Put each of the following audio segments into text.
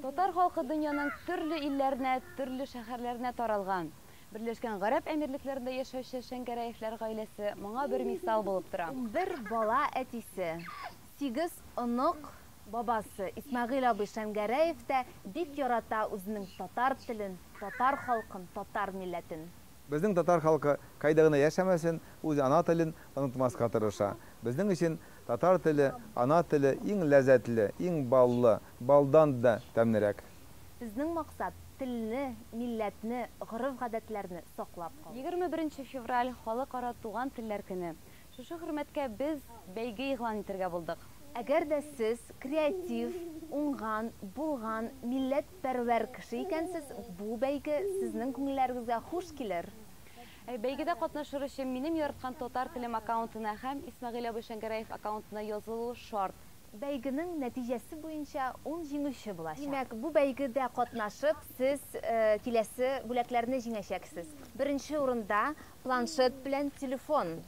Татар халкы дөньяның төрле илләренә, төрле шәһәрләренә таралган. Берләшкән Гарәп Әмирлекләрендә яшәүче Шәңгәрәевләр гаиләсе моңа бер мисал булып тора. Унбер бала әтисе, сигез онык бабасы Исмәгыйль абый Шәңгәрәев тә бик ярата үзенең татар телен, татар халкын, татар милләтен. Безнең татар халкы кайда гына яшәмәсен, үз ана телен онытмаска тырыша. Безнең өчен татар теле, ана теле иң ләззәтле, иң баллы, балдан да тәмлерәк. Безнең максат, телне, милләтне, гореф-гадәтләрне саклап калу. Егерме беренче февраль, Халыкара туган телләр көне. Шушы хөрмәткә без бәйге игълан итергә булдык. Әгәр дә сез креатив, уңган, булган, милләтпәрвәр кеше икәнсез, бу бәйге сезнең күңелләрегезгә хуш килер. Бәйгедә катнашыр өчен минем яраткан Татар телем аккаунтына һәм Исмәгыйль абый Шәңгәрәев аккаунтына язылу шарт. Бәйгенең нәтиҗәсе буенча ун җиңүче булачак. Димәк, бу бәйгедә катнашып, сез киләсе бүләкләрне җиңәчәксез. Беренче урында Планшет белән телефон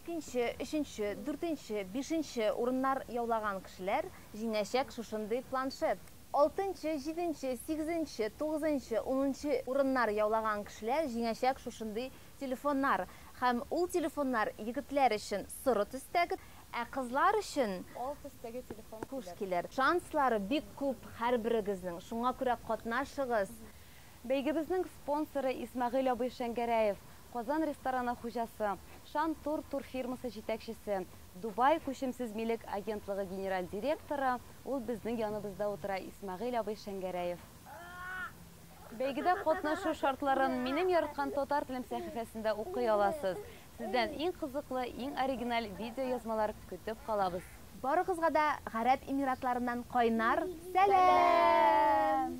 икенче, өченче, дүртенче, бишенче урыннар яулаган кешеләр җиңәчәк шушындый планшет. Алтынчы, җиденче, сигезенче, тугызынчы, унынчы урыннар яулаган кешеләр җиңәчәк шушындый телефоннар. Һәм ул телефоннар егетләр өчен соры төстәге, ә кызлар өчен ал төстәге телефон килер. Шанслар бик күп һәрберегезнең, шуңа күрә катнашыгыз! Бәйгебезнең спонсоры, Исмәгыйль абый Шәңгәрәев, Казан рестораны хуҗасы, Шан Тур турфирмасы җитәкчесе, Дубай күчемсез милек агентлыгы генераль директоры, ул безнең яныбызда утыра, Исмәгыйль абый Шәңгәрәев. Бәйгедә катнашу шартларын Минем яраткан татар телем сәхифәсендә укый аласыз. Сездән иң кызыклы, иң оригиналь видеоязмалар көтеп калабыз. Барыгызга да Гарәп Эмиратларыннан кайнар сәлам!